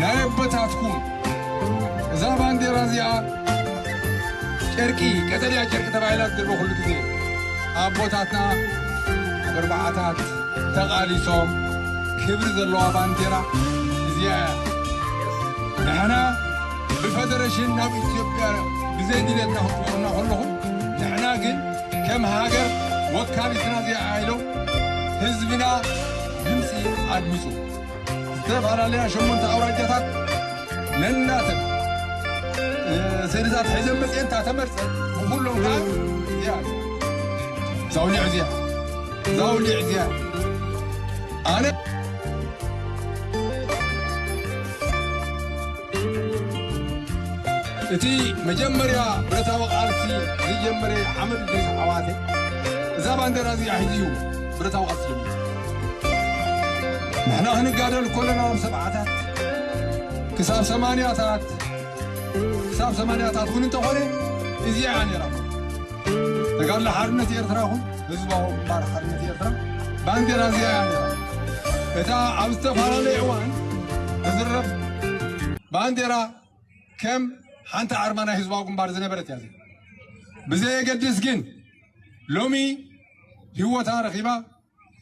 ናይ ኣቦታትኩም እዛ ባንዴራ እዚኣ ጨርቂ ቀጠልያ ጨርቂ ተባሂላ ትድርበ ኩሉ ግዜ ኣቦታትና ኣብ ኣርባዓታት ተቓሊሶም ክብሪ ዘለዋ ባንዴራ እዚኣ ንሕና ብፈደረሽን ናብ ኢትዮጵያ ብዘይ ድሌትና ክትቆምና ከለኹም ንሕና ግን ከም ሃገር ወካሊትና እዚኣ ኢሎም ህዝብና ድምፂ ኣድምፁ ዝተፈላለያ ሸሞንተ ኣውራጃታት ነናተን ሰነዳት ሒዘን መፅኤን እታ ተመርፀት ብኩሎም ከዓ እዚኣ ዛውሊዕ እዚኣ ዛውሊዕ እዚኣ ኣነ እቲ መጀመርያ ብረታዊ ቃልሲ ዝጀመረ ዓመት ድሪስ ዓዋተ እዛ ባንዴራ እዚኣ ሒዙ እዩ ብረታዊ ቃልሲ ጀሚሩ። ንሕና ክንጋደል ኮለና ኣብ ሰብዓታት ክሳብ ሰማንያታት ክሳብ ሰማንያታት እውን እንተኾነ እዚኣ እያ ነይራ ተጋድሎ ሓርነት ኤርትራ ይኹን ህዝባዊ ግንባር ሓርነት ኤርትራ ባንዴራ እዚኣ እያ ነይራ እታ ኣብ ዝተፈላለየ እዋን እዝረብ ባንዴራ ከም ሓንቲ ኣርማ ናይ ህዝባዊ ግንባር ዝነበረት እያ ብዘየገድስ ግን ሎሚ ህይወታ ረኺባ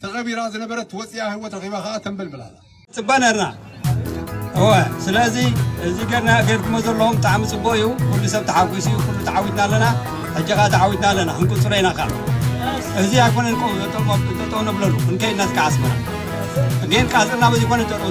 ተቐቢራ ዝነበረት ወፂኣ ህይወት ረኺባ ከዓ ተንበልብል ኣላ ፅባ ነርና እወ ስለዚ እዚ ገርና ገርኩሞ ዘለኹም ብጣዕሚ ፅቡቅ እዩ ኩሉ ሰብ ተሓጒሱ እዩ ኩሉ ተዓዊትና ኣለና ሕጂ ከዓ ተዓዊትና ኣለና ክንቅፅሎ ኢና ከዓ እዚ ኣይኮነን ጠጠው ነብለሉ ክንከይድና ዝከዓ ኣስመራ ግን ቃፅልና በዚ ኮነ ጠጠው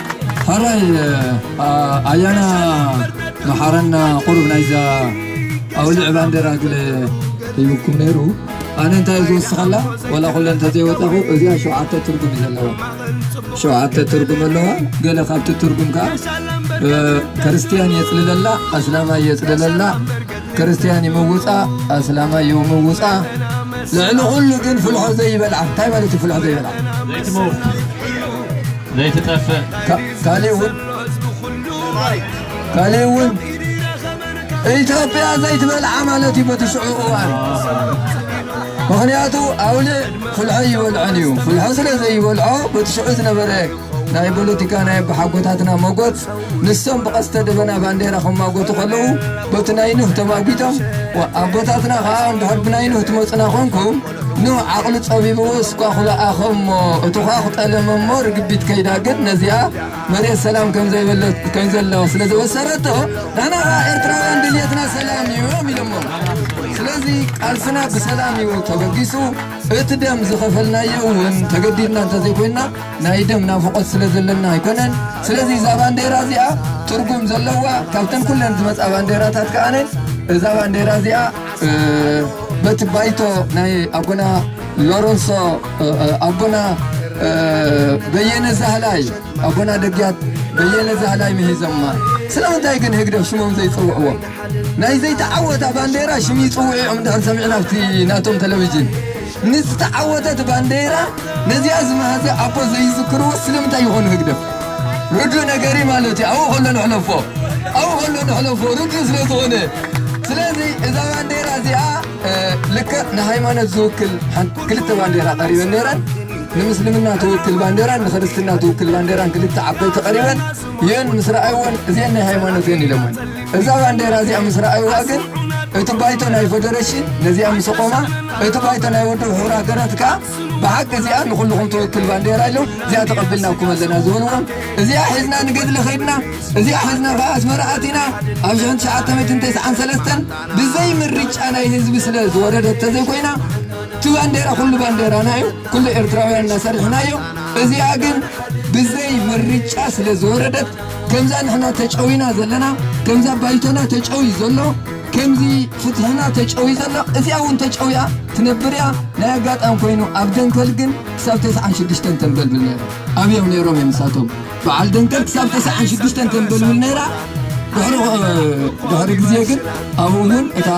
ሐራይ ኣያና መሓረና ቁሩብ ናይዛ ኣውልዕ ባንዴራ ግለ ሂብኩም ነይሩ ኣነ እንታይ እዩ ዝውስኸላ ወላ ኩለ እንተዘይወጣኹ እዚኣ ሸውዓተ ትርጉም እዩ ዘለዋ ሸውዓተ ትርጉም ኣለዋ ገለ ካብቲ ትርጉም ከዓ ክርስትያን የፅልለላ ኣስላማይ የፅልለላ ክርስትያን ይምውጻ ኣስላማይ ይምውጻ ልዕሊ ኩሉ ግን ፍልሖ ዘይበልዓ እንታይ ማለት እዩ ፍልሖ ዘይበልዓ ዘይትመውት ዘይትጠፍእ ካሊእ እውን ካሊእ እውን ኢትዮጵያ ዘይትበልዓ ማለት እዩ በትሽዑ እዋን ምክንያቱ ኣውልዕ ፍልሖ ይበልዖን እዩ ፍልሖ ስለ ዘይበልዖ በትሽዑ ዝነበረ ናይ ፖለቲካ ናይ ኣቦሓጎታትና መጎት ንሶም ብቐስተ ደበና ባንዴራ ክማጎቱ ከለዉ በቲ ናይ ኑህ ተማጒቶም ኣቦታትና ከዓ እንድሕር ብናይ ኑህ ትመፁና ኮንኩም ኑህ ዓቕሉ ፀቢብዎ እስኳ ክበኣኸሞ እቱዃ ክጠለመሞ ርግቢት ከይዳ ግን ነዚኣ መሬት ሰላም ከምዘለዋ ስለ ዘበሰረቶ ንሕና ከዓ ኤርትራውያን ድልየትና ሰላም እዩ እዮም ኢሎሞ ስለዚ ቃልስና ብሰላም እዩ ተበጊሱ እቲ ደም ዝኸፈልናዮ እውን ተገዲድና እንተዘይኮይንና ናይ ደም ናፍቆት ስለ ዘለና ኣይኮነን ስለዚ እዛ ባንዴራ እዚኣ ትርጉም ዘለዋ ካብተን ኩለን ዝመፃ ባንዴራታት ከኣነ እዛ ባንዴራ እዚኣ በቲ ባይቶ ናይ ኣቦና ሎረንሶ ኣቦና በየነ ዛህላይ ኣቦና ደግያት በየነ ዛህላይ ምሂዘማ ስለምንታይ ግን ህግደፍ ሽሞም ዘይፅውዕዎም ናይ ዘይተዓወታ ባንዴራ ሽም ይጽውዒዖም ድሕር ሰሚዕና ኣብቲ ናቶም ተለቪጅን ንዝተዓወተት ባንዴራ ነዚኣ ዝመሃዘ ኣቦ ዘይዝክርዎ ስለምንታይ ይኾኑ ህግደፍ ርዱእ ነገሪ ማለት እዩ ኣብኡ ከሎ ንሕለፎ ኣብኡ ከሎ ንሕለፎ ርዱእ ስለ ዝኾነ ስለዚ እዛ ባንዴራ እዚኣ ልክዕ ንሃይማኖት ዝውክል ክልተ ባንዴራ ቀሪበን ነይረን ንምስልምና ትውክል ባንዴራን ንክርስትና ትውክል ባንዴራን ክልተ ዓበይቲ ቀሪበን የን ምስ ረኣይወን እዚአን ናይ ሃይማኖት የን ኢለሞን እዛ ባንዴራ እዚኣ ምስ ረኣይዋ ግን እቲ ባይቶ ናይ ፌደሬሽን ነዚኣ ምስ ቆማ እቲ ባይቶ ናይ ወዲ ሕቡር ሃገራት ከዓ ብሓቂ እዚኣ ንኩልኹም ትወክል ባንዴራ ኢሎም እዚኣ ተቐብልናኩም ኣለና ዝብልዎም እዚኣ ሒዝና ንገድሊ ኸድና እዚኣ ሒዝና ከዓ ኣስመራ ኣቲና ኣብ ሽሕን ትሽዓተ ሚእትን ተስዓን ሰለስተን ብዘይ ምርጫ ናይ ህዝቢ ስለ ዝወረደት ተዘይኮይና እቲ ባንዴራ ኩሉ ባንዴራና እዩ ኩሉ ኤርትራውያን እናሰርሕናዮ እዚኣ ግን ብዘይ ምርጫ ስለ ዝወረደት ከምዛ ንሕና ተጨዊና ዘለና ከምዛ ባይቶና ተጨውዩ ዘሎ ከምዚ ፍትሕና ተጨውዩ ዘሎ እዚኣ እውን ተጨውያ ትነብር እያ ናይ ኣጋጣሚ ኮይኑ ኣብ ደንከል ግን ክሳብ ተስዓን ሽዱሽተን ተንበልብል ነይሩ ኣብዮም ነይሮም እዮም ንሳቶም በዓል ደንከል ክሳብ ተስዓን ሽዱሽተን ተንበልብል ነይራ ድሕሪ ግዜ ግን ኣብኡ እውን እታ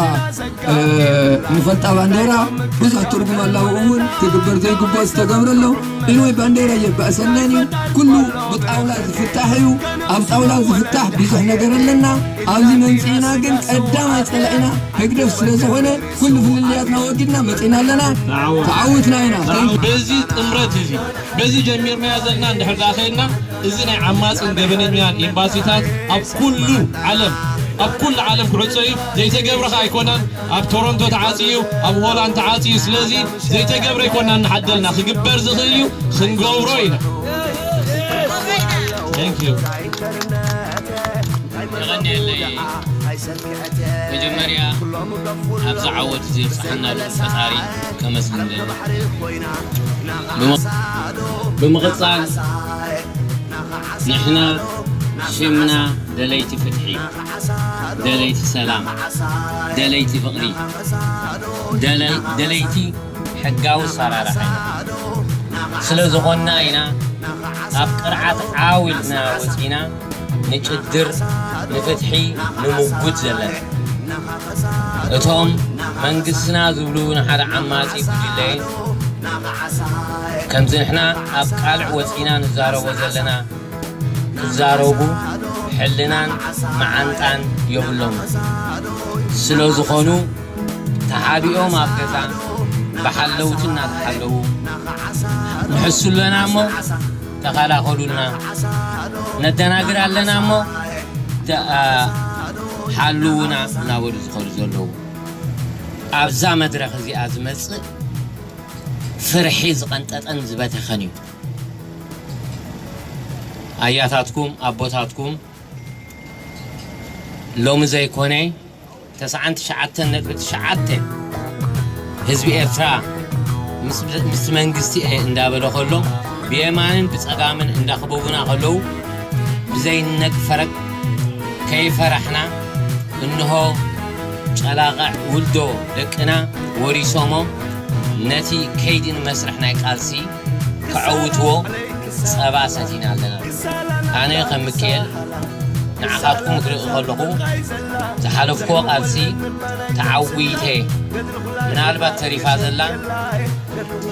ንፈልጣ ባንዴራ ብዙሕ ትርጉም ኣላብኡ እውን ክግበር ዘይግብኦ ዝተገብረ ኣሎ ኢንወይ ባንዴራ የባእሰናን እዩ ኩሉ ብጣውላ ዝፍታሕ እዩ ኣብ ጣውላ ዝፍታሕ ብዙሕ ነገር ኣለና ኣብዚ መምፅእና ግን ቀዳማይ ፀላኢና ህግደፍ ስለ ዝኾነ ኩሉ ፍልልያትና ወጊድና መፅእና ኣለና ተዓዊትና ኢና በዚ ጥምረት እዚ በዚ ጀሚርናዮ ዘለና እንድሕር ዳኣ ከይድና እዚ ናይ ዓማፅን ገበነኛን ኤምባሲታት ኣብ ኩሉ ዓለም ኣብ ኩሉ ዓለም ክዕፆ እዩ ዘይተገብረ ከዓ ኣይኮነን ኣብ ቶሮንቶ ተዓጽዩ እዩ ኣብ ሆላንድ ተዓጽዩ ስለዚ ዘይተገብረ ኣይኮናን ንሓደልና ክግበር ዝኽእል እዩ ክንገብሮ ኢና። ደለይቲ ሰላም፣ ደለይቲ ፍቕሪ፣ ደለይቲ ሕጋዊ ኣሰራርሓ ስለ ዝኾንና ኢና ካብ ቅርዓት ዓው ኢልና ወጺእና ንጭድር፣ ንፍትሒ ንሙጉት ዘለና። እቶም መንግስትና ዝብሉ ንሓደ ዓማጺ ጉጅለ ከምዚ ንሕና ኣብ ቃልዕ ወጺእና ንዛረቦ ዘለና፣ ክዛረቡ ሕልናን መዓንጣን የብሎምን ስለዝኾኑ ተሓቢኦም ኣብ ገዛ ብሓለውቲ እናተሓለዉ ንሕሱ ኣለና እሞ ተኸላኸሉልና ነደናግር ኣለና እሞ ሓልውና እናበሉ ዝኸዱ ዘለዉ ኣብዛ መድረኽ እዚኣ ዝመፅእ ፍርሒ ዝቐንጠጠን ዝበተኸን እዩ ኣያታትኩም ኣቦታትኩም ሎሚ ዘይኮነ ተስዓን ትሽዓተን ነጥቢ ትሽዓተ ህዝቢ ኤርትራ ምስ መንግስቲ እየ እንዳበለ ከሎ ብየማንን ብፀጋምን እንዳኽበቡና ከለዉ ብዘይነቅ ፈረቅ ከይፈራሕና እንሆ ጨላቐዕ ውልዶ ደቅና ወሪሶሞ ነቲ ከይዲ ንመስርሕ ናይ ቃልሲ ከዐውትዎ ጸባ ሰቲና ኣለና። ኣነ ከም ምኪኤል ንዓኻትኩም ክርኢ ከለኹ ዝሓለፍክዎ ቃልሲ ተዓዊተ ምናልባት ተሪፋ ዘላ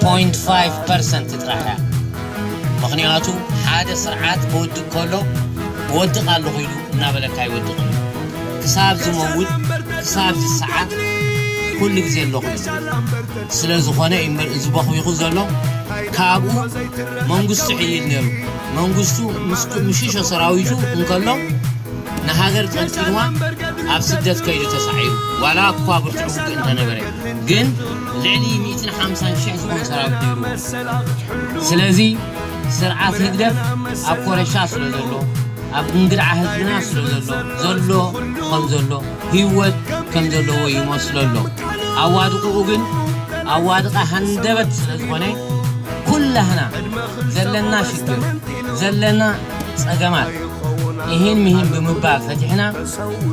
ፖይንት ፋይቭ ፐርሰንት ጥራሕ እያ። ምክንያቱ ሓደ ስርዓት ክወድቅ ከሎ ወድቅ ኣለኹ ኢሉ እናበለካ ይወድቅን ክሳብ ዝመውት ክሳብ ዝሰዓት ኩሉ ግዜ ኣለኹ ኢሉ ስለ ዝኾነ እዩ እምበር እዚ ቦኽቢኹ ዘሎ ካብኡ መንግስቱ ሕይል ነይሩ መንግስቱ ምስ ምሽሾ ሰራዊቱ እንከሎ ንሃገር ጠልጢልዋ ኣብ ስደት ከይዱ ተሳዒሩ ዋላ እኳ ብርቱዕ ውግእ እንተነበረ ግን ልዕሊ 150 ሽሕ ዝኾን ሰራዊት ነይሩዎ ስለዚ ስርዓት ህግደፍ ኣብ ኮረሻ ስለ ዘሎ ኣብ እንግድዓ ህዝብና ስለ ዘሎ ዘሎ ከም ዘሎ ህይወት ከም ዘለዎ ይመስሎ ኣሎ ኣዋድቅኡ ግን ኣዋድቃ ሃንደበት ስለ ዝኾነ ኩላህና ዘለና ሽግር ዘለና ጸገማት ይህን ምሂን ብምባል ፈቲሕና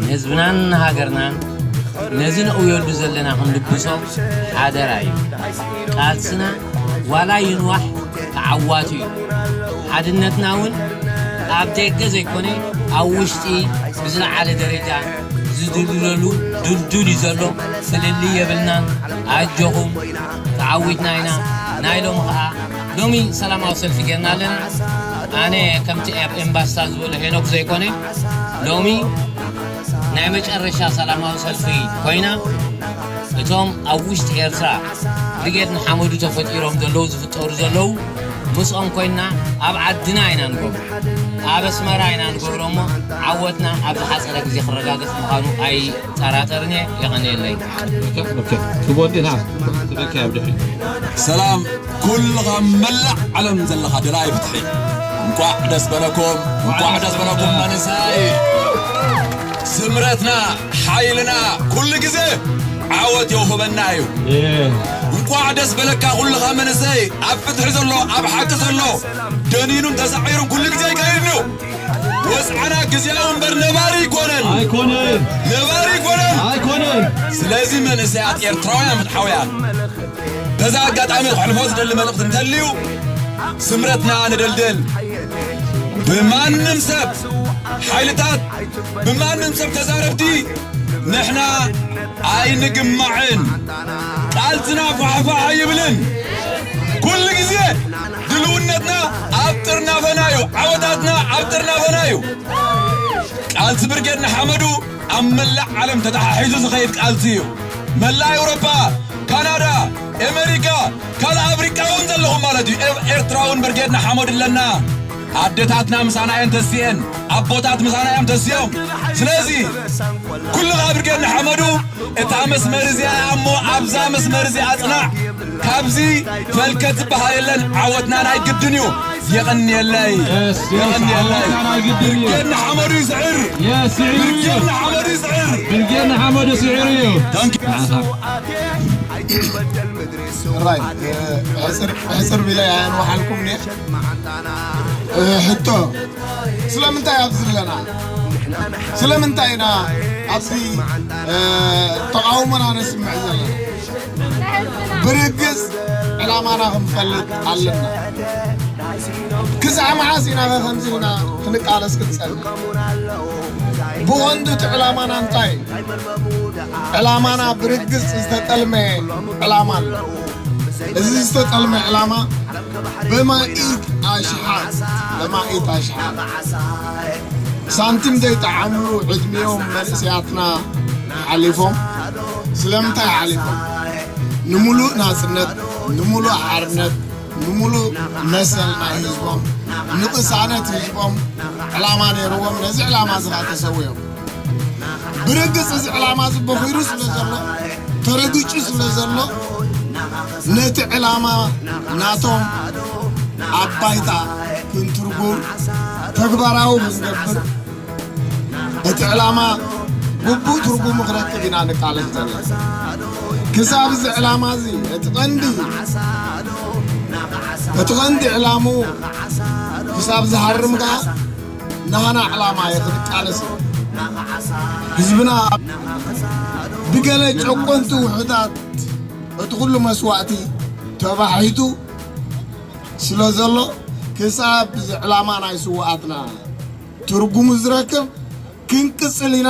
ንህዝብናን ሃገርናን ነዚ ነእውየሉ ዘለና ክንልግሶ ሓደራ እዩ ቃልስና ዋላ ይንዋሕ ተዓዋቱ እዩ ሓድነትና እውን ኣብ ደገ ዘይኮነ ኣብ ውሽጢ ብዝለዓለ ደረጃ ዝድልለሉ ድልዱል እዩ ዘሎ ፍልል የብልናን ኣጆኹም ተዓዊትና ኢና ናይ ሎሚ ከዓ ሎሚ ሰላማዊ ሰልፊ ጌርና ኣለና ኣነ ከምቲ ኣብ ኤምባስታ ዝበሎ ሄኖክ ዘይኮነ ሎሚ ናይ መጨረሻ ሰላማዊ ሰልፊ ኮይና እቶም ኣብ ውሽጢ ኤርትራ ብርጌድ ንሓመዱ ተፈጢሮም ዘለዉ ዝፍጠሩ ዘለዉ ምስኦም ኮይና ኣብ ዓድና ኢና ንገብሮ ኣብ ኣስመራ ኢና ንገብሮ እሞ ዓወትና ኣብ ዝሓፀረ ግዜ ክረጋገፅ ምዃኑ ኣይጠራጠርን እየ የቐንየለይ ሰላም ኩልኻ ኣብ መላእ ዓለም ዘለኻ ደላይ ፍትሒ እንቋዕ ደስ በለኩም እንቋዕ ደስ በለኩም መንእሰይ ስምረትና ሓይልና ኩሉ ግዘ ዓወት የውህበና እዩ። እንኳዕ ደስ በለካ ኩልኻ መንእሰይ ኣብ ፍትሒ ዘሎ ኣብ ሓቂ ዘሎ ደኒኑን ተሳዒሩን ኩሉ ግዜ ይከይድ እዩ። ወፅዓና ግዜያዊ እምበር ነባሪ ኣይኮነን ኣይኮነን ነባሪ ኣይኮነን ኣይኮነን። ስለዚ መንእሰያት ኤርትራውያን ፍትሓውያን በዛ ኣጋጣሚ ክሕልፎ ዝደሊ መልእኽቲ እንተልዩ ስምረትና ንደልድል ብማንም ሰብ ሓይልታት ብማንም ሰብ ተዛረብቲ ንሕና ኣይንግማዕን ቃልስና ፋሕፋሕ ኣይብልን ኩሉ ግዜ ድልውነትና ኣብ ጥርናፈና እዩ ዓወታትና ኣብ ጥርናፈና እዩ ቃልሲ ብርጌድ ንሓመዱ ኣብ መላእ ዓለም ተተሓሒዙ ዝኸይድ ቃልሲ እዩ መላእ ኤውሮፓ ካናዳ ኣሜሪካ ካልእ ኣፍሪቃ እውን ዘለኹም ማለት እዩ ኤርትራውን ብርጌድ ንሓመዱ ኣለና ኣደታትና ምሳና እየን ተሲኤን፣ ኣቦታት ምሳና እዮም ተሲኦም። ስለዚ ኩሉ ካብ ብርጌድ ንሓመዱ እታ መስመር እዚኣ እያ እሞ ኣብዛ መስመር እዚኣ ጽናዕ። ካብዚ ፈልከት ዝበሃል የለን። ዓወትና ናይ ግድን እዩ። የቐንየለይ Yes, yes, የቐንየለይ። ዓወትና ናይ ግድን እዩ። ብርጌድ ንሓመዱ ይስዕር፣ Yes, ስዒሩ እዩ። ብርጌድ ንሓመዱ ይስዕር። ብርጌድ ንሓመዱ ስዒሩ እዩ። Thank you. ንዓኻ ሕራይ ሕፅር ብላይ ኣያን ወሓልኩም እኒአ ሕቶ ስለምንታይ ኣብዚ ኣለና ስለምንታይ ኢና ኣብዚ ተቃውሞና ነስምዕ ዘለና ብርግፅ ዕላማና ክንፈልጥ ኣለና ክሳዕ መዓስ ኢና ከምዚ ኢልና ክንቃለስ ክንፀንሕ ብወንዱ እቲ ዕላማና እንታይ ዕላማና ብርግፅ ዝተጠልመ ዕላማ ኣሎ እዚ ዝተጠልመ ዕላማ በማኢት ኣሽሓት በማኢት ኣሽሓት ሳንቲም ዘይጠዓምሉ ዕድሜኦም መንእሰያትና ሓሊፎም ስለምንታይ ሓሊፎም ንምሉእ ናጽነት ንምሉእ ሓርነት ንምሉእ መሰል ናይ ህዝቦም ንቕሳነት ህዝቦም ዕላማ ነይርዎም ነዚ ዕላማ እዚ ከዓ ተሰዊኦም ብርግፅ እዚ ዕላማ እዚ በኺሩ ስለ ዘሎ ተረጊጩ ስለ ዘሎ ነቲ ዕላማ ናቶም ኣብ ባይታ ክንትርጉም ተግባራዊ ክንገብር እቲ ዕላማ ግቡእ ትርጉሙ ክረክብ ኢና ንቃለስ ዘለና ክሳብ እዚ ዕላማ እዚ እቲ ቀንዲ እቲ ቀንዲ ዕላምኡ ክሳብ ዝሃርም ከዓ ናህና ዕላማ እየ ክንቃለስ ህዝብና ብገለ ጨቆንቲ ውሑታት እቲ ኩሉ መስዋእቲ ተባሒቱ ስለ ዘሎ ክሳብ እዚ ዕላማ ናይ ስዋኣትና ትርጉሙ ዝረክብ ክንቅፅል ኢና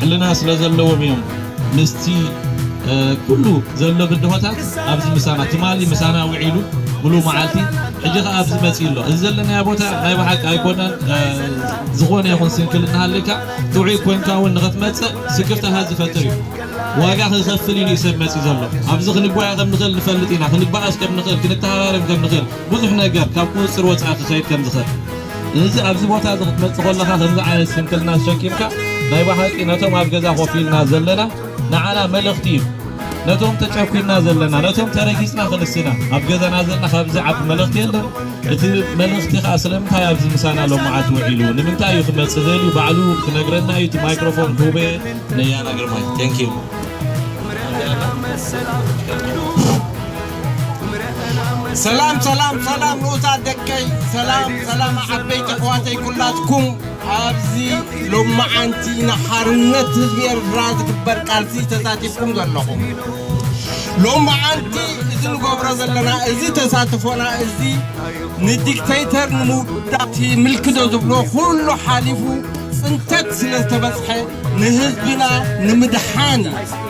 ሕልና ስለ ዘለዎም እዮም ምስቲ ኩሉ ዘሎ ብድሆታት ኣብዚ ምሳና ትማሊ ምሳና ውዒሉ ሙሉእ መዓልቲ ሕጂ ከኣ ኣብዚ መጺኡ ኣሎ እዚ ዘለናዮ ቦታ ናይ ብሓቂ ኣይኮነን ዝኾነ ይኹን ስንክል እናሃለካ ጥዑይ ኮንካ እውን ንኽትመጽእ ስክፍታታት ዝፈጥር እዩ ዋጋ ክኸፍል ኢሉ ሰብ መጺኡ ዘሎ ኣብዚ ክንጓየ ከም ንኽእል ንፈልጥ ኢና ክንበኣስ ከም ንኽእል ክንተሃራረም ከም ንኽእል ብዙሕ ነገር ካብ ቁፅፅር ወፃኢ ክኸይድ ከም ዝኽእል እዚ ኣብዚ ቦታ እዚ ክትመጽእ ከለኻ ከምዚ ዓይነት ስንክልና ተሸኪምካ ናይ ብሓቂ ነቶም ኣብ ገዛ ኮፍ ኢልና ዘለና ንዓና መልእኽቲ እዩ ነቶም ተጨኩና ዘለና ነቶም ተረጊጽና ክንስና ኣብ ገዛና ዘለና ካብዚ ዓቢ መልእኽቲ የለን እቲ መልእኽቲ ከዓ ስለምንታይ ኣብዚ ምሳና ሎማዓት ውዒሉ ንምንታይ እዩ ክመጽእ ዘልዩ ባዕሉ ክነግረና እዩ እቲ ማይክሮፎን ክህበ ነያና ግርማይ ቴንኪዩ ሰላም ሰላም ሰላም ንኡሳት ደቀይ ሰላም ሰላም ዓበይቲ ኣሕዋተይ ኩላትኩም ኣብዚ ሎማዓንቲ ንሓርነት ህዝቢ ኤርትራ ዝግበር ቃልሲ ተሳቲፍኩም ዘለኹም ሎማዓንቲ እዚ ንገብሮ ዘለና እዚ ተሳትፎና እዚ ንዲክተይተር ንምውዳት ምልክዶ ዝብሎ ኩሉ ሓሊፉ ፅንተት ስለ ዝተበፅሐ ንህዝብና ንምድሓን እዩ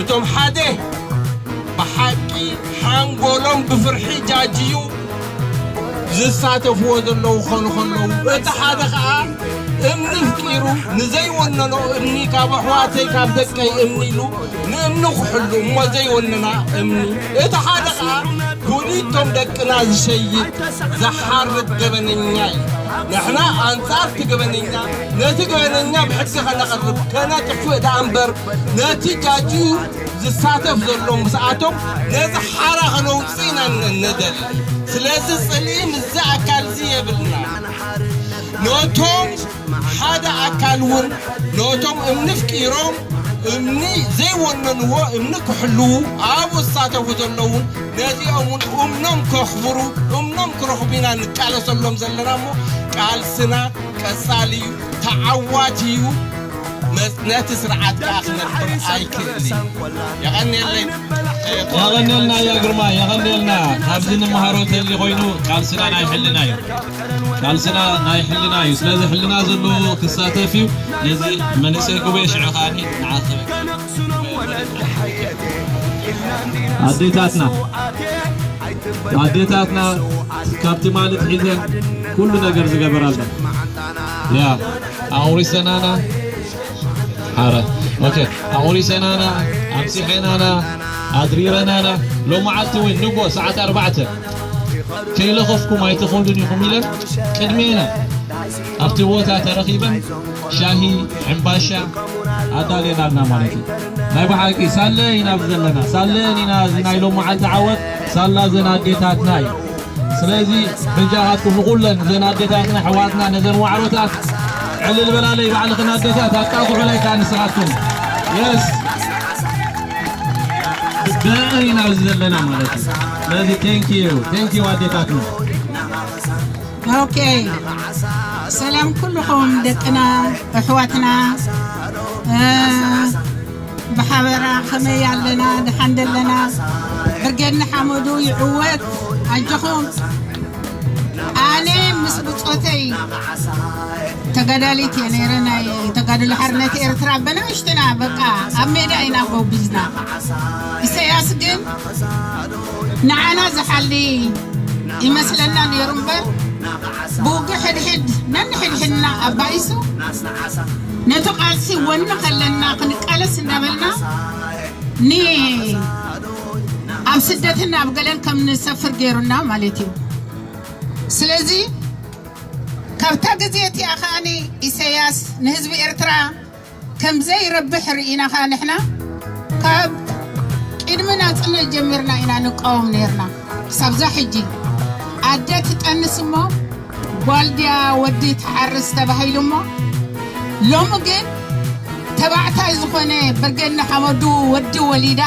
እቶም ሓደ ብሓቂ ሓንጎሎም ብፍርሒ ጃጅዩ ዝሳተፍዎ ዘለዉ ኾኑ ኸለዉ እቲ ሓደ ኸዓ እምኒ ፍጢሩ ንዘይወነኖ እምኒ ካብ ኣሕዋተይ ካብ ደቀይ እምኒ ኢሉ ንእምኒ ኩሕሉ እሞ ዘይወነና እምኒ እቲ ሓደ ኸዓ ኩሊቶም ደቅና ዝሸይጥ ዝሓርድ ገበነኛ እዩ ንሕና ኣንጻርቲ ገበነኛ ነቲ ገበነኛ ብሕጊ ከነቕርብ ከነጥፍእ ደኣ እምበር ነቲ ጃጅዩ ዝሳተፍ ዘሎ ምስኣቶም ነዚ ሓራ ከነውፅእ ኢና ንደሊ ስለዚ ፅልኢ ምስዚ ኣካል እዚ የብልናን ነቶም ሓደ ኣካል እውን ነቶም እምኒ ፍቂሮም እምኒ ዘይወነንዎ እምኒ ክሕልዉ ኣብኡ ዝሳተፉ ዘለዉ ነዚኦም እውን እምኖም ከኽብሩ እምኖም ክረኽቡ ኢና ንቃለሰሎም ዘለና እሞ ቃልስና ቀፃሊ እዩ ተዓዋቲ እዩ ነቲ ስርዓት ከኣ ክነብር ኣይክእልን እዩ። የቐንየለይ ቖረ የቐንየልና ያ ግርማ የቐንየልና ካብዚ ንመሃሮ ተሊ ኮይኑ ቃልስና ናይ ሕልና እዩ ቃልስና ናይ ሕልና እዩ ስለዚ ሕልና ዘለዎ ክሳተፍ እዩ ነዚ መንእሰይ ጉበኤ ሽዑ ከዓኒ ንዓኸበ ኣዴታትና ኣዴታትና ካብ ትማሊ ትሒዘን ኩሉ ነገር ዝገበራለን ያ ኣቑሪ ሰናና ሓረ ኦኬ ኣቑሪ ሰናና ኣምሲሐናና ኣድሪረናና ሎመዓልቲ እውን ንጎ ሰዓት ኣርባዕተ ከይለኸፍኩም ኣይትኸዱን ኢኹም ኢለን ቅድሜና ኣብቲ ቦታ ተረኺበን ሻሂ ዕምባሻ ኣዳልየናልና ማለት እዩ ናይ ብሓቂ ሳለ ኢና ዘለና ሳለን ኢና እዚ ናይ ሎመዓልቲ ዓወት ሳላ ዘን ኣዴታትና እዩ ስለዚ በጃኻትኩም ንኹለን እዘን ኣዴታትና ኣሕዋትና ነዘን ዋዕሮታት ዕልል በላለይ ባዕልኽን ኣዴታት ኣጣቕዑለይ ከዓ ንስኻትኩም የስ ብእን ኢና ኣብዚ ዘለና ማለት እዩ ስለዚ ቴንክ ዩ ቴንክ ዩ ኣዴታትና ኦኬ ሰላም ኩልኹም ደቅና ኣሕዋትና ብሓበራ ከመይ ኣለና ድሓን ደለና ብርጌድ ንሓመዱ ይዕወት ኣጆኹም ኣነ ምስ ብፆተይ ተጋዳሊት እየ ነይረ ናይ ተጋድሎ ሓርነት ኤርትራ በናእሽትና በቃ ኣብ ሜዳ ኢና ጎብዝና ኢሰያስ ግን ንዓና ዝሓሊ ይመስለና ነይሩ እምበር ብውግእ ሕድሕድ ነንሕድሕድና ኣባይሱ ነቲ ቃልሲ ወኒ ከለና ክንቃለስ እንዳበልና ን ኣብ ስደትን ኣብ ገለን ከም ንሰፍር ገይሩና ማለት እዩ ስለዚ ካብታ ግዜ እቲኣ ከኣ ኢሰያስ ንህዝቢ ኤርትራ ከም ዘይረብሕ ርኢና ከኣ ንሕና ካብ ቅድሚ ናጽነት ጀሚርና ኢና ንቃወም ነርና ክሳብዛ ሕጂ ኣደ ትጠንስ እሞ ጓል ድያ ወዲ ትሓርስ ተባሂሉ እሞ ሎሚ ግን ተባዕታይ ዝኾነ ብርጌድ ንሓመዱ ወዲ ወሊዳ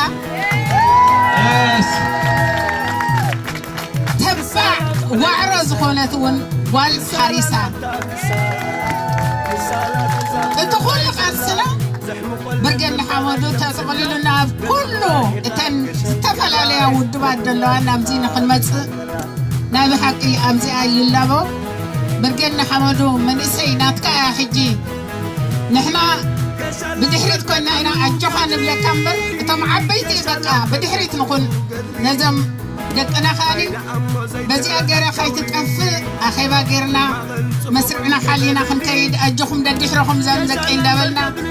ተባዕ ዋዕሮ ዝኾነት እውን ጓል ሓሪሳ እቲ ኩሉ ቃልስና ብርጌድ ንሓመዱ ተጠቕሊሉና ኣብ ኩሉ እተን ዝተፈላለያ ውድባት ዘለዋ ናብዚ ንክንመፅእ ናይ ብሓቂ ኣብዚኣ ይላቦ ብርጌድ ንሓመዱ መንእሰይ ናትካ እያ ሕጂ ንሕና ብድሕሪት ኮይና ኢና ኣጆኻ ንብለካ እምበር እቶም ዓበይቲ በቃ ብድሕሪት ንኹን ነዞም ደቅና ከኣኒ በዚኣ ገይረ ከይትጠፍእ ኣኼባ ገይርና መስርዕና ሓሊና ክንከይድ ኣጆኹም ደድሕረኹም ዘም ዘቀይ እንዳበልና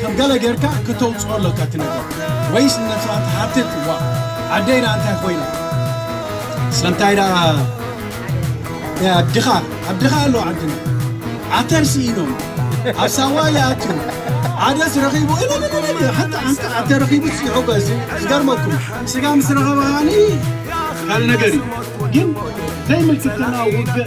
ከም ገለ ጌርካ ክተውጽኦ ኣሎካ እቲ ነገር ወይስ ንነብስኻ ትሓትት ዋእ ዓደይ ደኣ እንታይ ኮይና ስለምታይ ደኣ ናይ ኣድኻ ኣድኻ ኣሎ ዓድና ዓተር ስኢኖም ኣብ ሳዋ ይኣትዩ ዓደስ ረኺቡ እልልልል ሓንቲ ሓንቲ ዓተር ረኺቡ ይሕጎስ ዝገርመኩም ስጋ ምስ ረኸበ ከዓኒ ካልእ ነገር እዩ ግን ዘይምልክትና ውግእ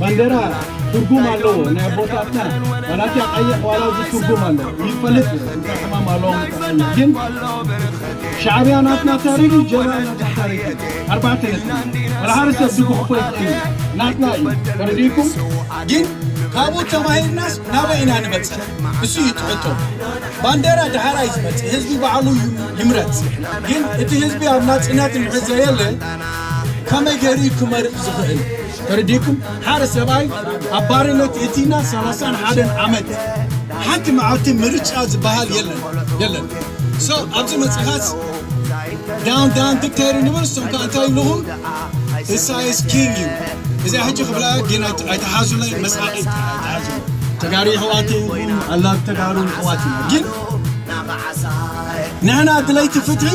ባንዴራ ትርጉም ኣለዎ ናይ ኣቦታትና ዋላቲ ቀይሕ ዋላ እዚ ትርጉም ኣለዎ ይፈልጥ እንታይ ሕማም ኣለዎ ግን ሻዕብያ ናትና ታሪክ እዩ ጀባ ናትና ታሪክ እዩ ኣርባዕተ ነጥቢ ወላሓደ ሰብ ዝጉሕፎ ይኽእል እዩ ናትና እዩ ተረዲእኩም ግን ካብኡ ተማሂርናስ ናበይ ኢና ንበፅሕ እሱ እዩ ትሕቶ ባንዴራ ድሓራ እዩ ዝመፅእ ህዝቢ ባዕሉ እዩ ይምረፅ ግን እቲ ህዝቢ ኣብ ናፅነት እንድሕር ዘየለ ከመይ ገይሩ እዩ ክመርፅ ዝኽእል ተረዲእኩም ሓደ ሰብኣይ ኣብ ባርነት እቲና ሰላሳን ሓደን ዓመት ሓንቲ መዓልቲ ምርጫ ዝበሃል የለን የለን ሶ ኣብዚ መፅኻስ ዳውን ዳውን ዲክተይር ንብል እሶም ከዓ እንታይ ይብልኹም ኢሳይስ ኪንግ እዩ እዚኣ ሕጂ ክብላ ግን ኣይተሓዙለይ መስሓቂ ኣይተሓዙ ተጋሩ ይሕዋት ይኹም ኣላ ተጋሩ ይሕዋት ግን ንሕና ድለይቲ ፍትሒ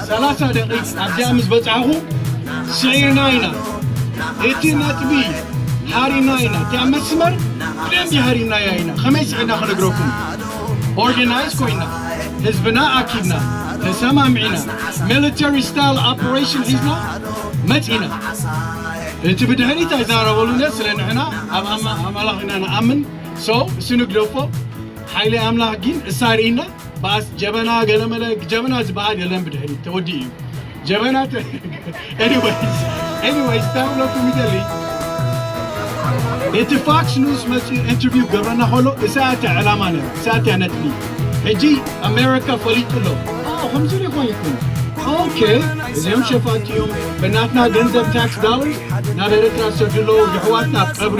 ሰላሳ ደቒቕ ኣብዚኣ ምስ በጻሕኹ ስዒርና ኢና እቲ ነጥቢ ሃሪና ኢና እቲኣ መስመር ብደንቢ ሃሪናያ ኢና ከመይ ስዒርና ክነግረኩም ኦርጋናይዝ ኮይና ህዝብና ኣኪብና ተሰማሚዕና ሚሊተሪ ስታይል ኦፕሬሽን ሒዝና መጺና እቲ ብድሕሪት ኣይዛረበሉነ ስለ ንሕና ኣብ ኣማ- ኣማላኽ ኢና ንኣምን ሰው እሱ ንግደፎ ሓይሊ ኣምላኽ ግን እሳሪእና ባስ ጀበና ገለመለ ጀበና ዝበሃል የለን ብድሕሪት ተወዲኡ እዩ ጀበና ኤኒዌይስ ኤኒዌይስ እንታይ ክብለኩም ይደሊ እቲ ፋክስ ኒውስ መፅኡ ኢንተርቪው ገብረና ከሎ እሳያት እያ ዕላማ ነይሩ እሳያት እያ ነጥቢ ሕጂ ኣሜሪካ ፈሊጡ ኣሎ ከምዚ ሪኮን ይኮኑ ኦኬ እዚኦም ሸፋቲ እዮም ብናትና ገንዘብ ታክስ ዳለር ናብ ኤርትራ ዝሰዱ ኣለዉ የሕዋትና ኣብ ቀብሪ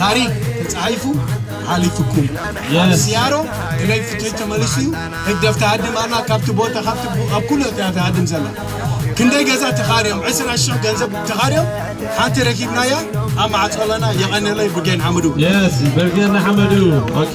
ታሪክ ተጻሒፉ ሓሊፍኩም ሲያሮ ክለይ ፍትሒ ተመሊሱ እዩ ህግደፍ ተሃድም ኣላ ካብቲ ቦታ ካብቲ ኣብ ኩሉ እያ ተሃድም ዘላ ክንደይ ገዛ ተኻርዮም ዕስራ ሽሕ ገንዘብ ተኻርዮም ሓንቲ ረኪብናያ ኣብ ማዕፀለና የቐንለይ ብጌን ሓመዱ የስ በርጌና ሓመዱ ኦኬ